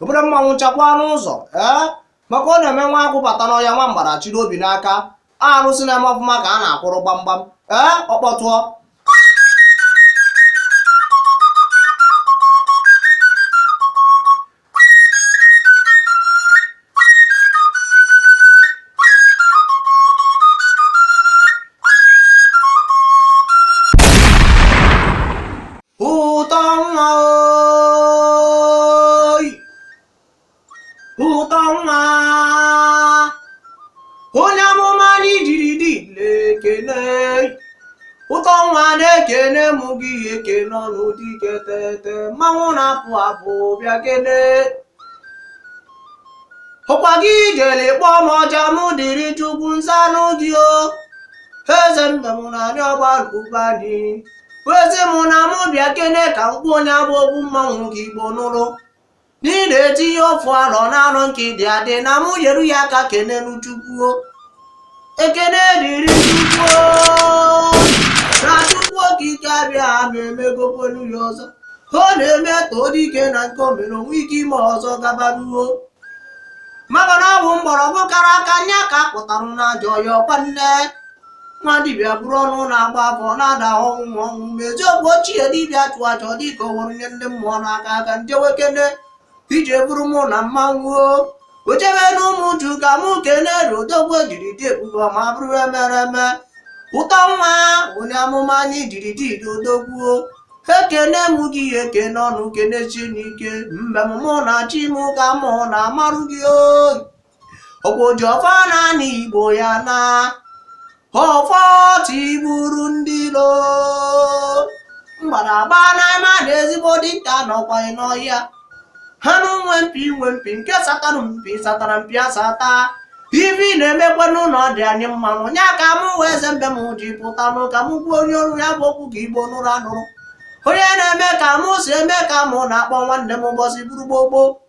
obere mmanwụ chakwa n'ụzọ ee maka ọ na-eme nwa agụ bata n'ọhịa nwa mgbada chịrị obi n'aka arụsị na-eme ọfụma ka a na-akụrụ gbamgbam ee ọkpọtụọ ụtọ nwa onye amụma anyị jiri dị na-ekene ụtọ nwa na-ekene m gị ekene ọnụ dike tete mmanwụ na-apụ apụ bịa kene ọkwa gị jere kpọọ m ọja m dịrị chukwu nzanụ gị o eze mbem na anyị ọgba ụba dị ezi m na mụ bịa kene ka m kpọọ onye abụ okwu mmanwụ ka igbo nụrụ N'ihi na eji ihe ofu arọ na anọ nke dị adị na mụ nyeru ya aka kenenụ Chukwu o. Ekene dịrị Chukwu o na Chukwu okike abịama emegokwenu ya ọzọ. Ọ na-eme e too dike na nke o mere o nwee ike ime ọzọ gabanụ o. Maka na ọ bụ mgbọrọgwụ kara aka nya ka a kpụtara n'ajọ ọhịa ọkwa nne. nwa dibịa buru ọnụ na-agba afa na-ada ọnwụ ma ọnwụ ma eziokwu ochie dibịa chụọ aja dịka o were nye ndị mmụọ n'aka aka njewe kene ije bụrụ mụ na mmanwụ ochebe na ụmụ uju ka mụ kene odogwu jiri dị ebube ma bụrụ emere eme ụtọ nwa onye amụma anyị jiri dị odogwu ekene m gị ekene ọnụ kenesi n'ike mbem mụ na chi m ka mụ na-amarụ gị o ọkwa oji ọfọ naanị igbo ya na ọfọ tigburu ndị ilo mgbadagba n'ime a na ezigbo dike nọkwa n'ọhịa anụ nwe mpi nwe mpi nke satara mpi satara mpi asata ive na-emekwa n'ụlọ dị anyị mmanwụ nya ka m wee eze mbem ji pụta nụ ka m gbuo onye ọrụ ya bụ okwu ka igbo nụrụ anụrụ onye na-eme ka mụ si eme ka mụ na-akpọ nwanne m ụbọsị bụrụ gbogbo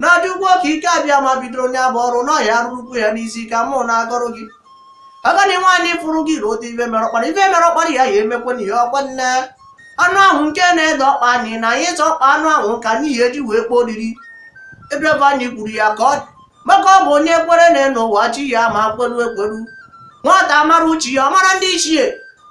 na chukwu okike abịama bidoro onye abụ ọrụ nya rụrukwuo ya n'isi ka mụ na-agọrọ gị agadi nwaanyị fụrụ gị rote ife mere ọkpara ife mere ọkpara ya ya emekwana ihe ọkwa nne anụ ahụ nke na-ede ọkpa anyị na anyị ịta ọkpa anụ ahụ ka anyị ya eji wee kpọọ oriri ebrebe anyị kwuru ya ka ọ dị maka ọ bụ onye kwere na enu ụwa chi ya ma kweru ekweru nwata mara uche ya ọ mara ndị ichie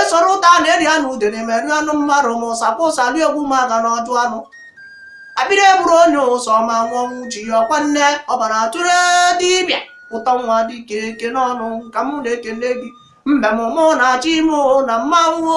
esoro ụta a na-eri anụ udene meri anụ mmadụ m sapụ ụsa rie egwu m aga n'ọdụ anụ abịrị eburu onye ụsọ ma nwụọ ọnwụ chi ya ọkwa nne ọbara atụrụ dibịa ụtọ nwa dike ekene ọnụ ka m na-ekene gị mbem mụ na-achọ ime na mmanwụ